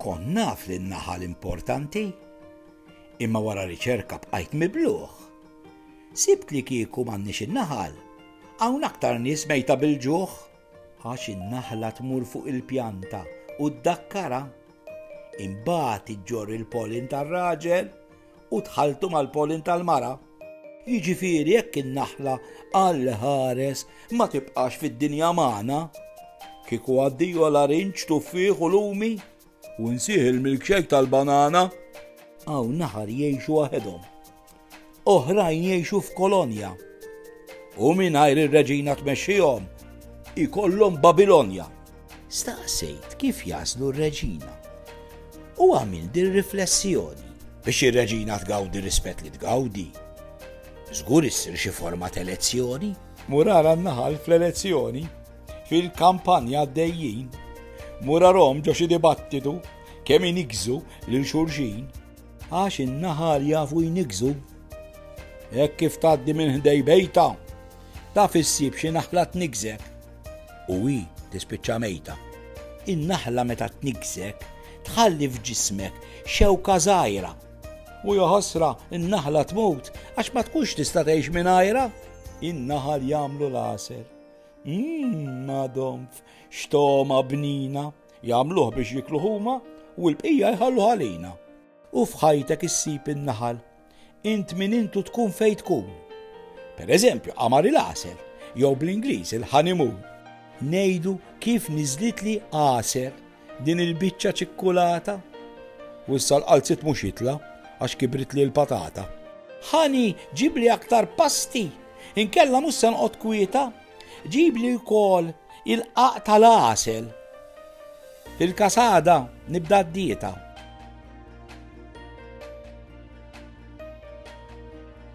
Kon naf li n-naħal importanti, imma wara riċerka bqajt mibluħ. Sibt li kieku m'għandniex in-naħal, hawn aktar nies mejta bil-ġuħ, għax in-naħla tmur fuq il-pjanta u ddakkara. Imbagħad iġġorr il-polin tar-raġel u tħalltu mal-pollen tal-mara. Jiġifieri jekk in-naħla għal ħares ma tibqax fid-dinja magħna, kieku għaddiju għal arinġ, tuffieħ u lumi, u nsih il-milkshake tal-banana, għaw naħar jgħixu waħedhom. Oħrajn jgħixu f'kolonja. U mingħajr ir-reġina tmexxihom ikollhom Babilonja. Staqsejt kif jagħżlu r-Reġina u għamilt dir-riflessjoni. Biex ir-Reġina tgawdi r-rispett li tgawdi, żgur issir xi forma t'elezzjoni. Mur ara n-naħal fl-elezzjoni, fil-kampanja għaddejjin, mur arahom ġo xi dibattitu kemm iniggżu lil xulxin. Għax in-naħal jafu jniggżu. Hekk kif tgħaddi minn ħdej bejtha, taf issib xi naħla tniggżek. u hi tispiċċa mejta. In-naħla meta tniggżek tħalli f'ġismek xewka żgħira. U jaħasra n-naħla tmut għax ma tkunx tista' tgħix mingħajrha. In-naħal jagħmlu l-għasel. Mmm, madonf, xtoma bnina. Jagħmluh biex jiklu huma u l-bqija jħallu ħalina. U f'ħajtek issib in-naħal. Int min int u tkun fejn tkun. Per eżempju, qamar il-għasel, jew bl-Ingliż il-honeymoon. Ngħidu kif niżlitli għasel din il-biċċa ċikkulata. U issa l-qalziet mhux jitla' għax kibritli l-patata. Ħani, ġibli aktar pasti, inkella mhux se noqgħod kwieta. Ġibli wkoll il-qaq tal-għasel. Fil-kasada nibda d-dieta.